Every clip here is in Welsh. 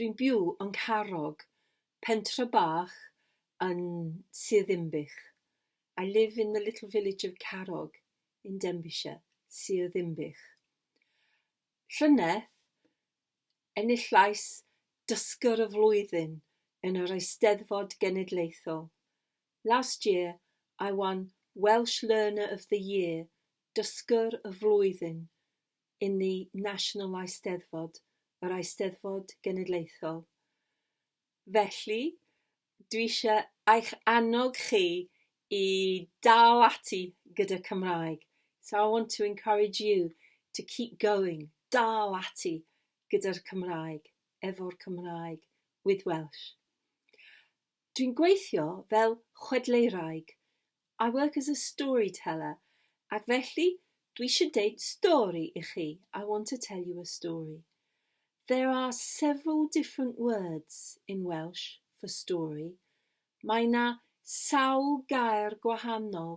Dwi'n byw yn Carrog, pentre bach yn Sir Ddinbych. I live in the little village of Carrog in Denbighshire, Sir Ddinbych. Llynedd, enillais Dysgwr y Flwyddyn yn yr Eisteddfod Genedlaethol. Last year, I won Welsh Learner of the Year, Dysgwr y Flwyddyn, inni National Eisteddfod, yr Eisteddfod Genedlaethol. Felly, dwi eisiau eich annog chi i dal ati gyda Cymraeg. So I want to encourage you to keep going, dal ati gyda'r Cymraeg, efo'r Cymraeg, with Welsh. Dwi'n gweithio fel chwedleiraig, I work as a storyteller, ac felly dwi eisiau deud stori i chi, I want to tell you a story. There are several different words in Welsh for story, mae 'na sawl gair gwahanol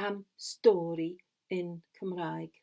am stori yn Cymraeg.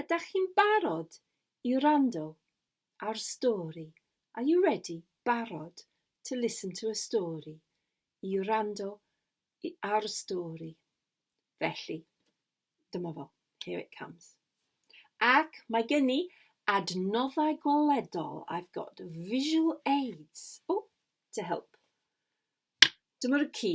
Ydach chi'n barod i wrando ar stori? Are you ready, barod, to listen to a story? I wrando ar stori. Felly, dyma fo. Here it comes. Ac mae gen i adnoddau gweledol. I've got visual aids. Oh, to help. Dyma'r ci.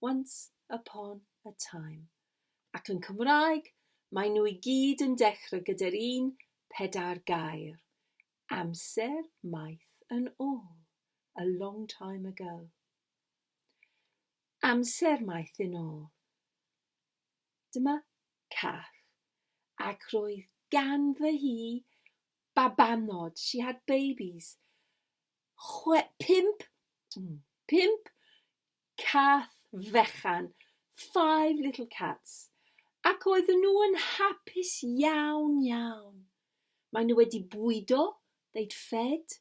Once upon a time. Ac yn Cymraeg, maen nhw i gyd yn dechrau gyda'r un pedair gair, amser maith yn ôl, a long time ago. Amser maith yn ôl. Dyma cath. Ac roedd ganddo hi babanod, she had babies, chwe, pump, mm, pump cath fechan, five little cats, ac oedden nhw yn hapus iawn, iawn. Mae nhw wedi bwydo, they'd fed,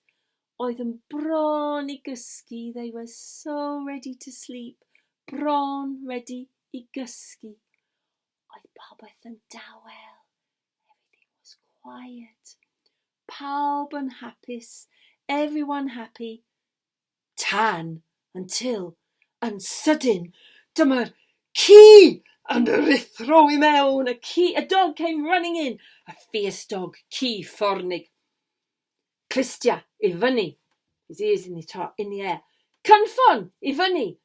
oedd yn bron i gysgu, they were so ready to sleep, bron, ready, i gysgu. Oedd popeth yn dawel, everything was quiet. Pawb yn hapus, everyone happy, tan, until, yn sydyn, dyma'r ci yn ruthro i mewn, a ci, a dog came running in, a fierce dog, ci ffornig, clustia i fyny, his ears in the top, in the air, cynffon i fyny,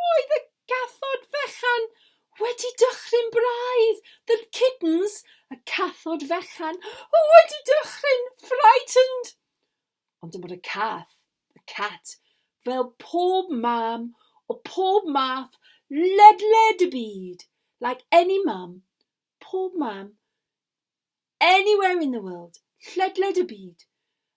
Roedd y cathod fechan wedi dychryn braidd, the kittens, y cathod fechan, wedi dychryn, frightened. Ond dyma'r y cath, the cat, fel pob mam o pob math ledled y byd, like any mum, pob mam, Anywhere in the world, ledled y byd.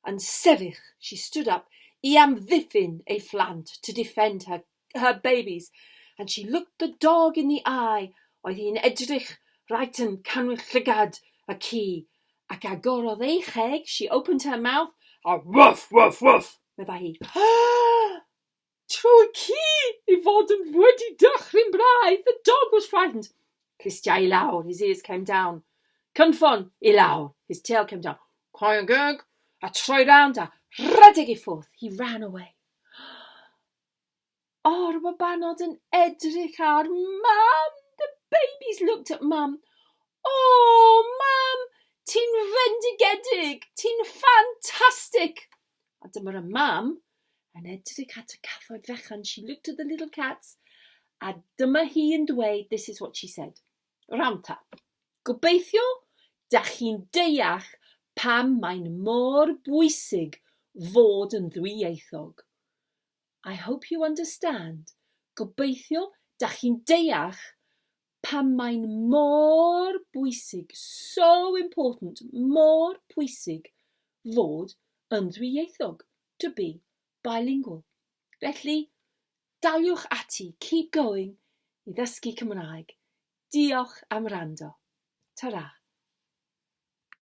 Yn sefyll, she stood up, i amddiffyn ei phlant, to defend her, her babies, and she looked the dog in the eye, oedd hi'n edrych right yn canwyll llygad y ci, ac agorodd ei cheg, she opened her mouth, a woof, woof, woof! meddai hi. Tro y ci i fod yn wedi dychryn braidd, the dog was frightened. Clustiau i lawr, his ears came down. Cynffon i lawr, his tail came down. Coen gig, a troi rownd a rhedeg i ffwrdd, he ran away. O'r babanod yn edrych ar mam, the babies looked at mum. O, mam, ti'n fendigedig! Ti'n ffantastig! A dyma y mam yn edrych at y cathoedd fechan. She looked at the little cats a dyma hi yn dweud, this is what she said. Ranta, gobeithio da chi'n deall pam mae'n mor bwysig fod yn ddwyieithog. I hope you understand. Gobeithio da chi'n deall pam mae'n mor bwysig, so important, mor pwysig fod yn ddwyieithog, to be bilingual. Felly, daliwch ati, keep going i ddysgu Cymraeg. Diolch am rando. Ta-ra.